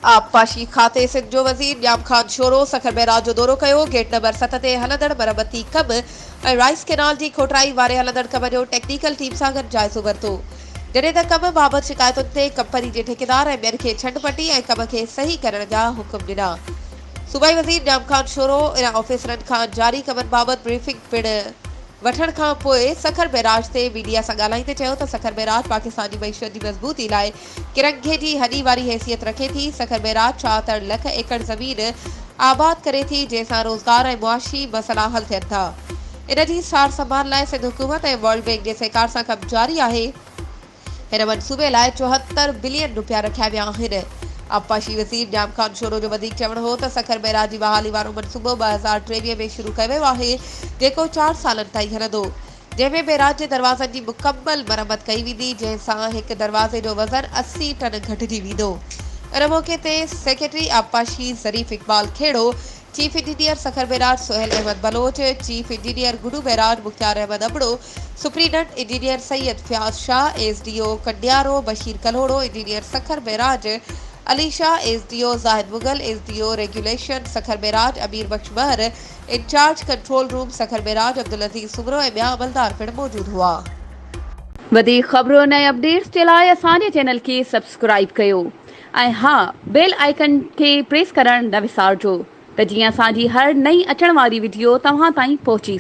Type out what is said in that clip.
آبپاشي کاتي سنڌ جو وزير ڄام خان شورو سکر بئراج جو دورو ڪيو، گيٽ نمبر ست تي هلندڙ مرمتي ڪم ۽ رائيس ڪئنال جي کوٽرائي واري هلندڙ ڪم جو ٽيڪنيڪل ٽيم سان گڏ جائزو ورتو، جڏهن ته ڪم بابت شڪايتن تي ڪمپني جي ٺيڪيدار ۽ ٻين کي ڇنڊ پٽي ۽ ڪم کي صحيح ڪرڻ جا حڪم ڏنا. صوبائي وزير ڄام خان شورو ان آفيسرن کان جاري ڪمن بابت بريفنگ پڻ وٺڻ کان پوء سکر بئراج تي ميڊيا سان ڳالهائيندي چيو ته سکر بئراج پاڪستان جي معيشت جي مضبوطي لاء ڪرڪ گهيٽي هڏي واري حيثيت رکي ٿي. سکر بئراج ڇا تڙ لک ايڪڙ زمين آباد ڪري ٿي، جنهن سان روزگار ۽ معاشي مسئلا حل ٿين ٿا. ان جي سار سنڀال لاء سنڌ حڪومت ۽ ورلڊ بئنڪ جي سهڪار سان ڪم جاري آهي. هن منصوبي لاء چوهتر بلين رپيا رکيا ويا آهن. آبپاشي وزير ڄام خان شورو جو وڌيڪ چوڻ هو ته سکر بئراج جي بحالي وارو منصوبو ٻه هزار ٽيويهه ۾ شروع ڪيو ويو آهي، جيڪو چار سالن تائين هلندو. جنهن ۾ بئراج جي دروازن جي مڪمل مرمت ڪئي ويندي، جنهن سان هڪ دروازي جو وزن اسي ٽن گهٽجي ويندو. ان موقعي تي سيڪريٽري آبپاشي Zarif Iqbal Khuhro, chief engineer Sukkur barrage Sohail Ahmed Baloch, chief engineer Guddu barrage Mukhtiar Ahmed Abro, superintendent engineer Syed Fayaz Shah, S D O Kandiaro Bashir Kalhoro, engineer Sukkur barrage Ali Shah, S D O Zahid Mughal, S D O regulation Sukkur barrage Amir Bakhsh Mahar, incharge control room Sukkur Meraj Abdul Aziz Soomro ۽ ٻيا عملدار پڻ موجود هئا. وڌيڪ خبرن ۽ اپڊيٽس جي لاء اسان جي چينل کي سبسڪرائيب ڪيو ۽ ها بيل آئيڪن کي پريس ڪرڻ نه وسارجو ته جيئن اسان جي هر نئين اچڻ واري وڊيو توهان تائين پهچي